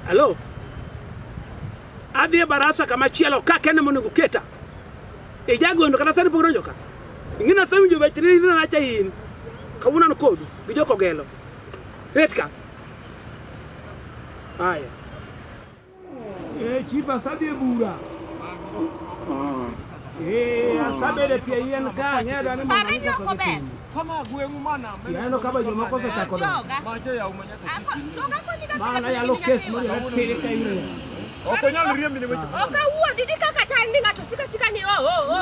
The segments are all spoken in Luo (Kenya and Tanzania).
Hello. Adhi e barasa kama chielo ka kende mondo guketa. E jagondo kata sani pokro joka. Ingina sami jo bachiri ni na cha in. Kawuna no kodu gi joko gelo. Retka. Haya. E chipa sabi e bura. Yaneno ka bajo moko osechako mana yalo kes moyapere ka ire ok onyal riembi ne weche ok awuo didi kaka chal ni ng'ato sika sika ni o o o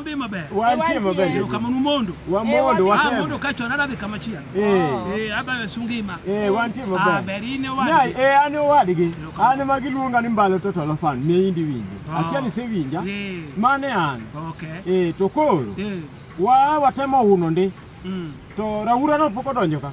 Ube mabe. Wantie mabe. Yo kama numondo. Wa mondo wa kama. Mondo kacho anarabe kama chia. Eh. Eh aba yasungima. Eh wantie mabe. Ah berine wa. Nai eh ani wadigi. Ani magiluonga ni mbalo toto lofan ne indi winji. Oh. Akia ni se winja. Eh. Mane an. Okay. Eh to koro. Eh. Wa watemo uno ndi. Mm. To raura no poko donjo ka.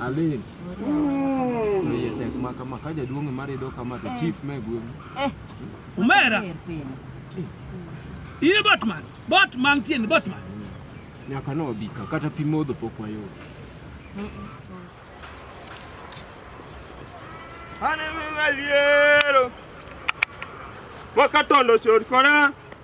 Alin. Oye tek ma kama ka jaduong' ema rido kama to chief me gweng'. Umera. Ine Botman. Botman tiende Botman. Nyaka no obi ka kata pi modho pok wayudo. Ane maliero. Wakatondo short kora.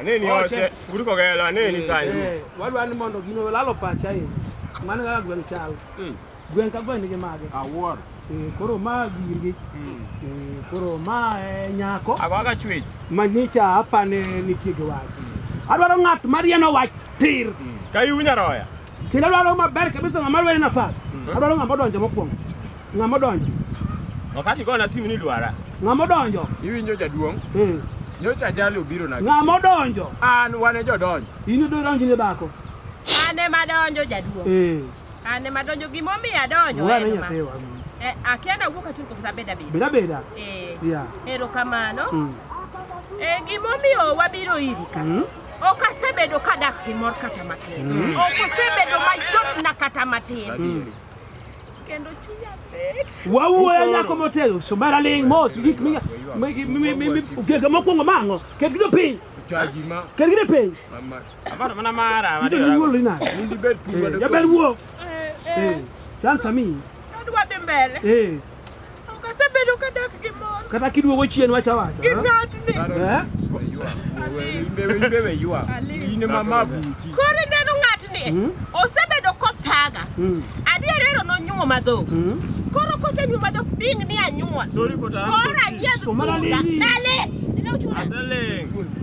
Aneni oche, guru ko gelo aneni kanyo. Eh, wadwa ni mondo gino lalo pacha e. Mano kaka gweng' chal. Hmm. Gweng' ka gweng' nigi mage. Awuor. Eh, koro ma girgi. Hmm. Eh, koro ma nyako. Ago aga chwech. Manyicha apane nitie gi wach. Hmm. Adwaro ng'at marieno wach tir. Kayu nyaroya. Kendo adwaro maber kabisa ng'ama lweny nafas. Mhm. Adwaro ng'ama odonjo mokwongo. Ng'ama odonjo. Wakati go na simu ni dwara. Ng'ama odonjo. Iwinjo jaduong'? Mm. Nyocha ajali obiro na. Ng'ama odonjo. An wane jodonjo. In idhi donjo ne dhako. An ema adonjo jaduong'. Eh. An ema adonjo gima omiyo adonjo. Wane nyathewa. Eh, akiana wuok atur kuom sabeda beda. Beda beda. Eh. Yeah. Erokamano. Mm. Eh, gima omiyo wabiro iri ka. Mm. Ok asebedo ka dak gi mor kata matin. Mm. Ok asebedo mayot na kata matin. Mm. Kendo chunya bet. Wawuoyo nyako motego somara ling mos gik mi gega mokwongo mang'o ket gido piny ket gido piny jaber wuo eh, eh. eh, dansa mi adwa dhi mbele Ok asebedo ka dak gi mor. Kata kiduogo chien wacha wacha. Gi ng'atni. Eh? Koro ineno ng'atni hmm? osebedo kothaga. Hmm. Adier ero nonyuo madhok. Hmm? Koro kosenyuo madhok bing ni anyuol. Koro ayiedh punda. Dale. Aseling'.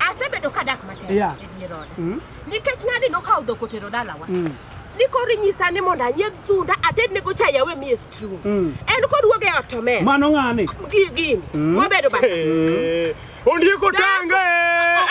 Asebedo ka dak matek yeah. e dier oda. Mm. Nikech ng'ani nokawo dhok otero dalawa. Mm. Ni koro inyisa ni mondo anyiedh thunda ated ne gocha yawe mi is true. Mm. En kod wuoge ot to men. Mano ng'ani. Gini. Mm. Wabedo ba. Eh. Ondieko tanga.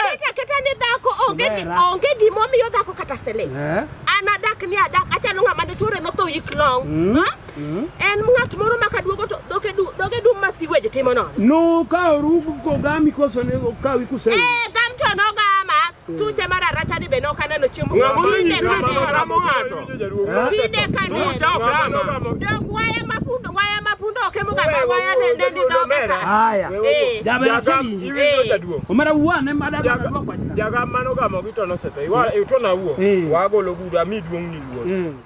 Oketa keta ni dhako onge onge gimo miyo dhako kata sele. Eh? Ana dak ni adak achalo ng'ama ne chore no tho yik long. Mm. Ha? Mm. En ng'at moro ma kaduogo to dhoge du dhoge dum ma siweje timo nono. No ka orugo ko gami koso ne okawi kuse. Eh gam to no gama. Mm. Suche mara racha ni be no kana no chiemo. Ngamo ni ma ma ramo ngato. Kinde ka ne. Suche ok ramo. Dog waya ma pundo waya ma pundo ke mo gama waya ne ne ni dhoge ka. Haya. Eh. Jabe na chini. Iwinjo eh. jaduo. Omara wuwa ne mada ka dwa kwa. Jaga mano gamo gi to no sete. Iwa e to na wuo. Eh. Wa golo guda mi duong ni wuo.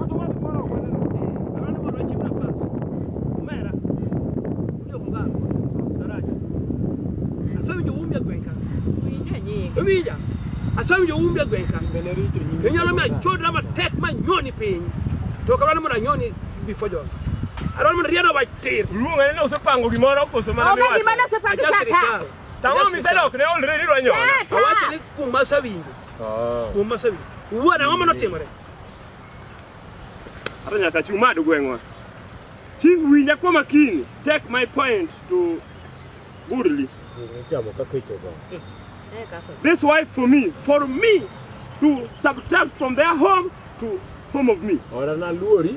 Kata wale mwana wa mwana. Abandi bano bakimu nafasi. Mera. Ndio kubana. Daraja. Asabi ndio umbia gwenka. Ubija. Asabi ndio umbia gwenka. Kenya na mimi chodra ma tek ma nyoni piny. To kabana mwana nyoni before John. Aron mwana riado baitir. Luonga ne usepango gimoro koso mana Onge miwacho. gima nosepangi Aja sata. sirikal. Tang'o Aja misedok sirikal. ne olre ni rwanyola. Awacho ni kuma sawinjo. Kuma sawinjo. Wuon ang'o mano timore? Hata nyaka chumado gweng'wa. Chief winja kwa makini. Take my point to Burli. This wife for me, for me to subtract from their home to home of me. Ora na luori.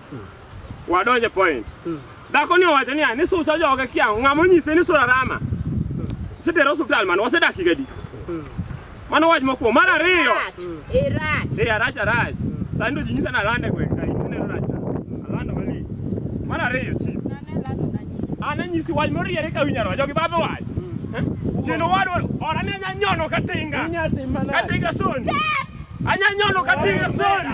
Wadonje point. Hmm. Dhako ni owacho niya ni sucha joge kia ng'a monyise ni sura rama. Sitere osiptal mano wasedak higa di. Hmm. Mano wach mokuo mar ariyo. Irach. Eh, Irach eh, arach. Hmm. Sani to ji nyisa na lande gweng' ka in neno rach. Alando mali. Mar ariyo chi. Ana nyisi wach moriere ka winyaro jogi badho wach. Eh? Kendo wadwa ora ne nyanyono katinga. Katinga soni. Anyanyono katinga soni.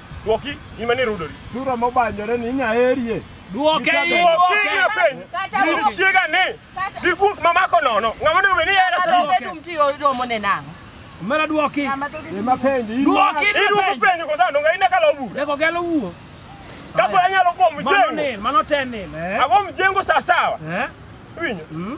Dwoki in mane rudori. Sura mobanyore ni inya herie. Dwoke Dwoki inya peny. Gini chiega ni. Gi guok mamako nono. Ng'ama onego bed ni yera sura. Bedum ti oromo ne nang'o? Mera dwoki. Ema penji. Dwoki ni dwoki penjo kwa sababu ngai ndaka lobu. Ndako gelo wuo. Kapo anyalo kwa mjengo. Mano ne, mano tenne. Ago mjengo sawa sawa. Eh? Winyo. Mm.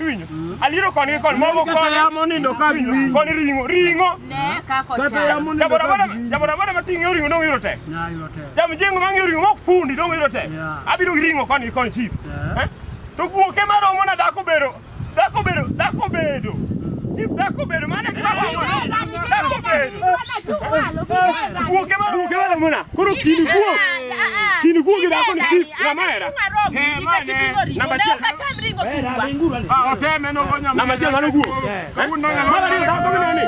Iwinjo? Aliro koni gi koni, mogo Kata koni. yamo nindo ka gi winyo. Koni ring'o, ring'o. Ne kako Kata chal. yamo nindo Jaboda ka boda, gi winyo. jaboda boda mating'e oringo dong' yudo tek. Na yudo tek. Jamjengo mang'e oringo mok fundi dong' yudo tek. Yeah. Abiro gi ring'o koni gi koni chief. Yeah. Eh? To guoke maromo na dhako bedo, dhako bedo, dhako bedo. Chief dhako bedo, mano e gima romo na. Dhako bedo. Guoke maromo na. Koro kini guok. kinigugire ako niki namera oteme nogonya namachia ngano guo mara ni dako minene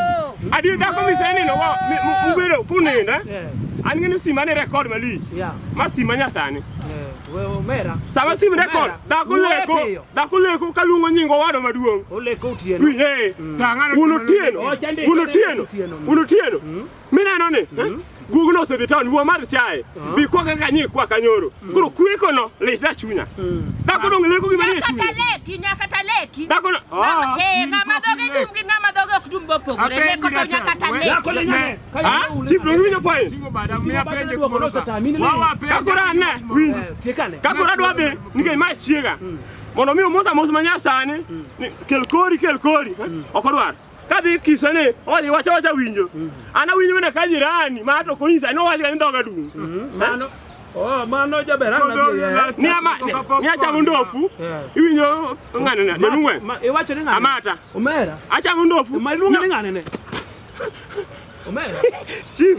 adi dako miseni no mubere kunenda aningene sima ne record malich masima nyasani sama sim record dhako leko dhako leko kaluongo nying owado maduong' uno tieno uno tieno uno tieno Mineno ni mm -hmm. Google osedhi town wuo mar chae uh -huh. bi kwa kaka nyi kwa kanyoro mm. Koro kweko no le da chunya mm. Da kono ngile ko gimane chunya Kata leki nya kata leki Da kono ah eh na madoge dum gi na madoge ok dum bopo gore ne ko to nya kata leki Da kono nya ha ti bro nyo pai Tingo bada mi apenje ko no sata mi ne Ka kora na wi Tekane Ka kora dwa be ni ke ma chiega mm. Mondo mi omosa mos manyasani mm. kel kori kel kori mm. ok odwar kadhi kisane oli wacha wacha winjo mm. ana winjo mana ka jirani ma to kunyisa no wacha ni doga dum mm. mano Oh, mano jaber ana bi. Ni amate. Ni acha mundofu. Iwinyo ngane na. Denungwe. Iwacho ni ngane. Amata. Omera. Acha mundofu. Malunga ni ngane ne. Omera. Chief.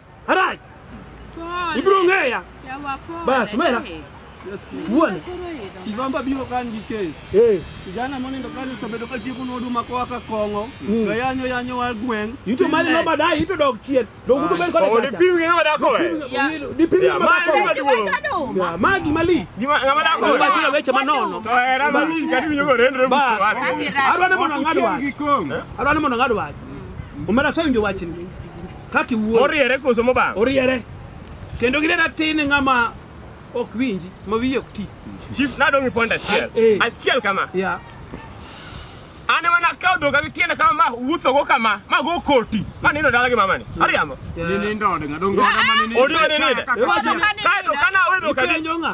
Harai. Ibrongeya. Basi mera. Uone. Kivamba biro kan gi kes. Eh. Kijana moni ndo kan osebedo ka tiyo kuno huduma kwa ka kongo. Mm. Ga yanyo yanyo wa gweng. Yuto mali no badai yuto dog chien. Dog yuto ben kode. Odi piwi ng'e mada ko. Di piwi ng'e mada ko. Ya magi mali. Di ma ng'e mada ko. Ba chula weche manono. To era mali kadi winyo go rendre. Bas. Arwane mono ngadwa. Arwane mono ngadwa. Umera so winjo wachni. kaka iwuoyo. Moriere koso mobang'? Oriere. Kendo gine ratin e ng'ama ok winji, ma wiye ok ti. Chief, nadong' ipond achiel. Ah, eh. Achiel kama. Yeah. An ema nakawo dhoga gi tiende kama ma wuothogo kama ma go koti ma nindo dala gi mamani. Hmm. Ariambo. Yeah. Ninindo odinga dongo ma ninindo. Odinga ninindo. Kae to kana awe dhoka. Ipenjo ng'a?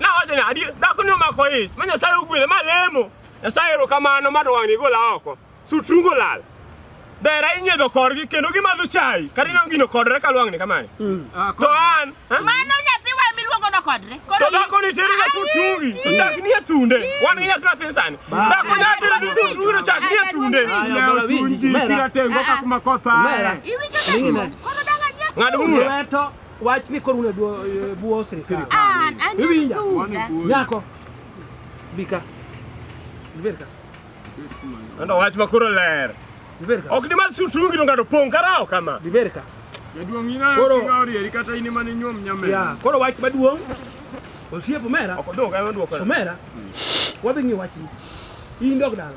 Na wacha ni adil, da kunyo mako ich. Manya sai ugwile ma lemo. Ya sai ero kamano ma dwang ni gola oko. Su trungo lal. Dera inye do korgi kendo gi madho chai. Kari na ngino kodre ka lwang ni kamani. Mm. Ah, to an. Mano nyathi wa mi luongo no kodre. To da koni teri na su trungi. To chak ni atunde. Wan ni nyathi atin sani. Da ko nya teri ni su trungi to chak ni atunde. Ayo tunji kira tengo ka kuma kotha. Iwinjo na. Ngadu mura. Wach ni koruno e bwo- e bwo sirikal. Ah, an Iwinja? Thuda. Nyako. Bika. Ibed ka. Ando wach ma koro ler. Ibed ka. Ok ni mar sutungi no ngado pong karao kama. Ibed ka. Jaduong' in ayo Koro- king'awo rieri kata in ema ninyuom nyamera. Ya, koro wach maduong'. Osiep omera. Ok odong ema duoko. Omera. Wadhi ng'i wachni. In dog dala.